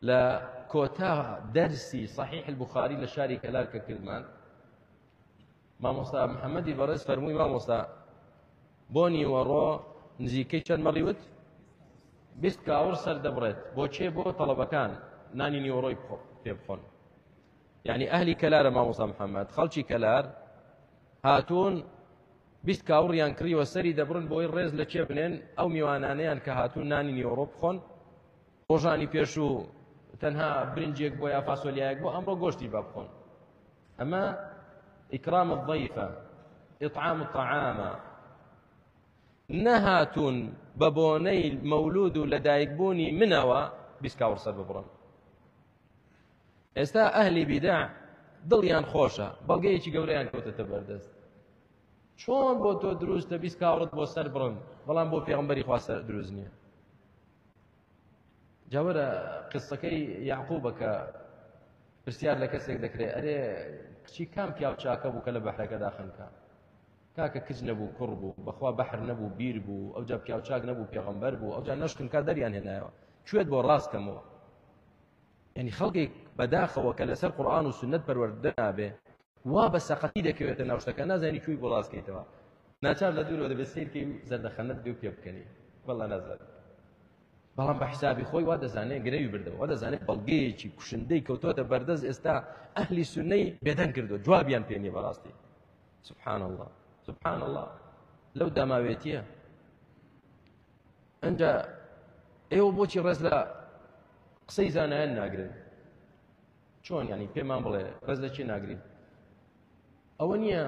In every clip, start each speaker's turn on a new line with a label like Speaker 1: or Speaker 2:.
Speaker 1: لە کۆتا دەرسی صحیح البخاری لە شاری کەلار کە کردمان مامۆستا محەممەدی بەڕێز فەرمووی مامۆستا بۆ نیوەڕۆ نزیکەی چەند مەڕیوت بیست کاور سەر دەبڕێت بۆ چێ بۆ تەڵەبەکان نانی نیوەڕۆی پێ بخۆن یعنی ئەهلی کەلارە مامۆسا محەممەد خەڵکی کەلار هاتوون بیست کاوڕیان کڕیوە سەری دەبرن بۆی ڕێز لە چێ بنێن ئەو میوانانیان کە هاتوون نانی نیوەڕۆ بخۆن ڕۆژانی پێشوو تەنها برنجێک بۆ یا فاسۆلیایەک بۆ ئەمڕۆ گۆشتی بە بخۆن ئەمە ئیکرام الضیفە ئطعام الطعامە نەهاتون بە بۆنەی مەولود و لەدایکبوونی منەوە بیسکاوڕسەر ببڕن ئێستا ئەهلی بیدا دڵیان خۆشە بەڵگەیەکی گەورەیان کەوتەتە بەردەست چۆن بۆ تۆ دروستە بیست کاوڕت بۆ سەر بڕن بەڵام بۆ پێغمبەری خوا سەر دروست نییە جا وەرە قسەکەی یعقوبە کە پرسیار لە کەسێک دەکرێت ئەرێ کچی کام پیاو چاکە بوو کە لە بەحرەکەدا خنکە کاکە کچ نەبوو کوڕ بوو بەخوا بەحر نەبوو بیر بوو ئەو جا پیاو چاک نەبوو پێغەمبەر بوو ئەو جا نەشتنکە دەریان هێنایەوە کوێت بۆ ڕاست کەمەوە یعنی خەڵکێک بەداخەوە کە لەسەر قورآن و سنت پەروەردە نابێ وا بە سەقەتی دەکەوێتە ناو شتەکە نازانی کوێی بۆ ڕاست کەیتەوە ناچار لە دوورەوە دەبێت سیر کەی و زەردەخەنەت بێ و پێ بکەنی بەڵا نازات بەڵام بە حسابی خۆی وا دەزانێت گرەوی بردەوە وا دەزانێت بەڵگەیەکی کوشندەی کەوتۆتە بەردەست ئێستا ئەهلی سنەی بێدەنگ کردووە جوابیان پێ نیە بەڕاستی سبحان الله سبحان الله لەو داماوێتیە ئەجا ئێوە بۆچی ڕێز لە قسەی زانایان ناگرن چۆن یانی پێمان بڵێ بەس لە کێ ناگرین ئەوە نییە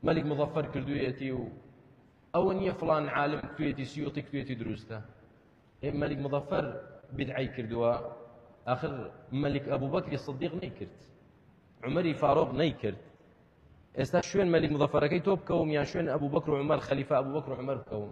Speaker 1: مەلیک مزەفەر کردویەتی و ئەوە نییە فلان عالم کوێتی سیوتی کوێتی دروستە ئێ مەلیک مزەفەر بدعی کردووە آخر مەلیک ئەبوو بەکری صدیق نەیکرد عمەری فاروق نەیکرد ئێستا شوێن مەلیک مزەفەرەکەی تۆ بکەوم یان شوێن ئەبوو بەکر و عمر خەلیفە ئەبوو بەکر و عمر بکەوم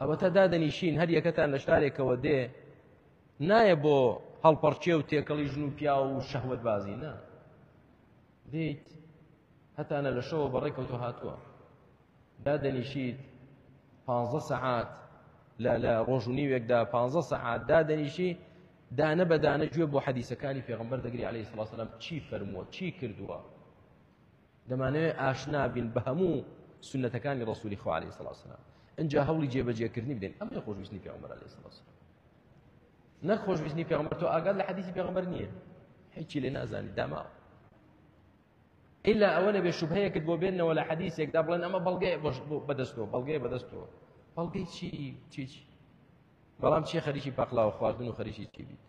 Speaker 1: ئەوەتا دادەنیشین هەر یەکەتان لە شارێکەوە دێ نایە بۆ هەڵپەڕچێ و تێکەڵی ژن و پیا و شەهوت بازی نا دیت هەتانە لە شەوە بەڕێکەوتۆ هاتووە دادەنیشیت پ سەعات لە لە ڕۆژ و نیوێکدا پ سەعات دادەنیشی دانە بەدانە گوێ بۆ حەدیسەکانی پێغمبەر دەگری عليه سلاسلام چی فەرمووە چی کردووە دەمانەوێت ئاشنا بین بە هەموو سنەتەکانی ڕسووری خوا عليه سڵاو سلام ئەجا هەوڵی جێبەجێکردنی بدەین ئەم لە خۆشویستنی پێغمبەر عليه سڵاو سلام نەک خۆشویستنی پێغمبەر تۆ ئاگات لە حەدیثی پێغمبەر نییە هیچی لێ نازانی داماوە إلا ئەوە نەبێ شوبهەیەکت بۆ بێنەوە لە حەدیثێکدا بڵێن ئەمە بەڵگەی بەدەستەوە بەڵگەی بەدەستەوە بەڵگەی چی چی بەڵام چی خەریکی پاقلاوە خواردن و خەریکی چی بیت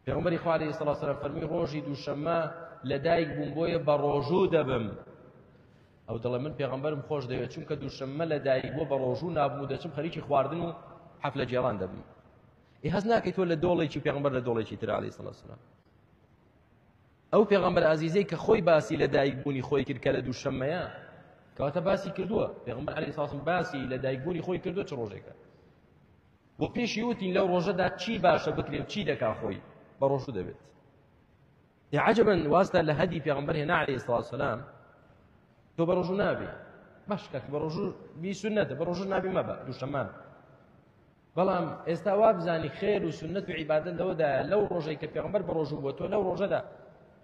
Speaker 1: پێغمبەری خوا علیه الصلاة والسلام فەرمی ڕۆژی دووشەممە لەدایک بووم بۆیە بە ڕۆژوو دەبم ئەو دەڵێ من پێغمبەرم خۆش دەوێت چونکە دووشەممە لەدایک بۆ بە ڕۆژوو نابوو دەچم خەریکی خواردن و حەفلە جێران دەبم ئی هەز ناکەیت تۆ لە دۆڵێکی پێغمبەر لە دۆڵێکی تر علیه الصلاة والسلام ئەو پێغمبەر ئازیزەی کە خۆی باسی لەدایک بوونی خۆی کرد کە لە دووشەممەیە کەواتە باسی کردووە پێغمبەر علیه الصلاة والسلام باسی لەدایک بوونی خۆی کردو چ ڕۆژێکە و پێشی وتین لەو ڕۆژەدا چی باشە بکرێ و چی دەکا خۆی بە ڕۆژوو دەبێت یا عجبن واستا لە هەدی پێغمبەر هێنا عليه سڵ سلام تۆ بە ڕۆژوو نابێ باش کاک بە ڕۆژوو بی سنەتە بە ڕۆژوو نابی مەبە دووشەمان بەڵام ئێستا وا بزانی خێر و سنت و عیبادن لەوەدایە لەو ڕۆژەی کە پێغمبەر بە ڕۆژوو بووە تۆ لەو ڕۆژەدا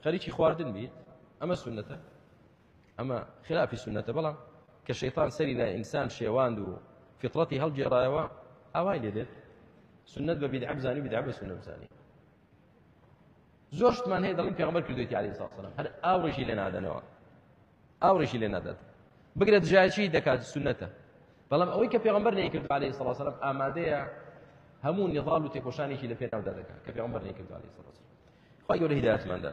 Speaker 1: خەریکی خواردن بیت ئەمە سنەتە ئەمە خلافی سونەتە بەڵام کە شەیتان سەری لای ئینسان شێواند و فطرەتی هەڵگێڕایەوە ئاوای لێ دێت سنت بە بیدعە بزانی بیدعە بە سنە بزانی زۆر شتمان هەیە دەڵین پێغمبەر کردوێتی علی ساسەلام هەر ئاو ڕێژی لێ نادەنەوە ئاو ڕێژی لێ نادات بگرە دژایەتی دەکات سنەتە بەڵام ئەوەی کە پێغمبەر نەیکرد علی ساسەلام ئامادەیە هەموو نێڵ و تێکۆشانێکی لە پێناودا دەکات کە پێغمبەر نەیکرد علی ساسەلام خۆی گەورە هیداتماندا